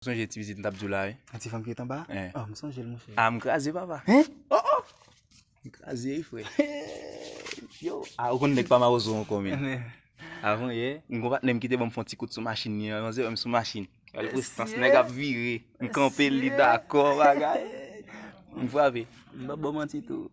Ou sonje ti pitit m tap diw la wi. Yon ti fanm ki ret anba a? Ohh m sonje l monchè. Ah m kraze papa. Hein? Oh oh! M kraze wi frè. Yo! Ah ou konn nèg pa mawozo ankò men. Avan yè, m gon patnè m ki te ban m fè yon ti kout sou machin li an. Yon zè wè m sou machin. Gade prestans nèg ap vire. M kanpe l li dakò bagay. M frape. M pap ba w manti tou.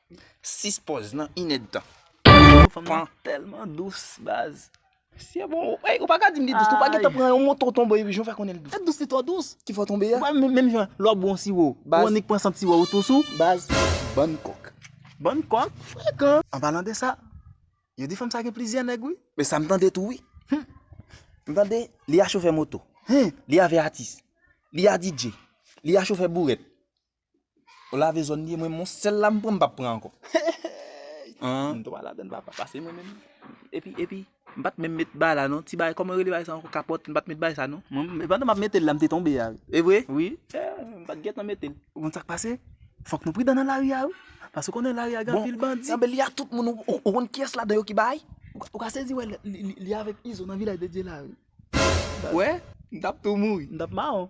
6 pòz nan inèdtan. Yo fanm nan tèlman dous baz. Siye bon ou Ey ou pa ka dim li dous tou ou pa gentan pran yon moto tonbe epi jan ou fè konnen li dous. Li dous li twò dous. Ki fè w tonbe a. Ou pa menm menm jan lè w ap bwè yon siwo ou annik pran sant siwo a ou tou sou. Baz bann kòk. Bann kòk frekan. An palan de sa yo di fanm sa gen plizyè nèg wi. Men sa m tande tou wi. M tande li a chofè moto. Li avè atis. Li a DJ. Li a chofè bourèt. Ou lave zòn li, mwen menm yon sèl la m pran m pap pran ankò. M twa ladann papa, pase mwen menm. Epi, epi, m pat menm met bagay la non, ti bagay kòman yo rele bagay sa ankò kapòt, m pat met bagay sa non. Mwen, pandan map mete l la m te tonbe a. E vre? Wi. M pat gentan mete l. Ou konn sak pase? Fòk nou pridan nan lari a wi. Paske ou konnen lari a gen anpil bandi. Bon, anben li a tout moun, ou konn kiyès ladan yo ki bay? Ou ka sezi wè li avèk Izo nan Vilaj de Dye la wi. Ou wè? M tap tou mouri. M tap mawon.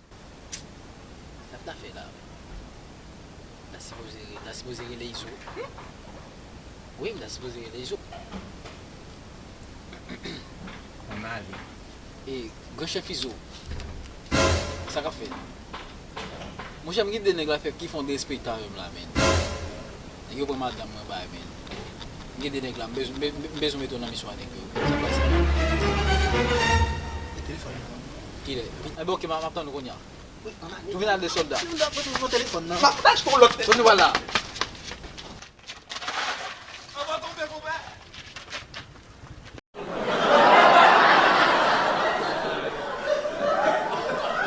Sat na fè la. Na sipoze na sipoze rele izo. Wi na sipoze rele izo. An ale. E gran chèf izo. Sa kap fè. Monchè m gin de nèg la fè ki fon de espèy ta menm la menn. Nèg yo pran madanm mwen bay men m gen 2 nèg la m bezwen mete w nan miswa nèg yo sa k pase la. Enben ok map tann ou kounya. Ou vin ak 2 sòlda. Bon nou pral la.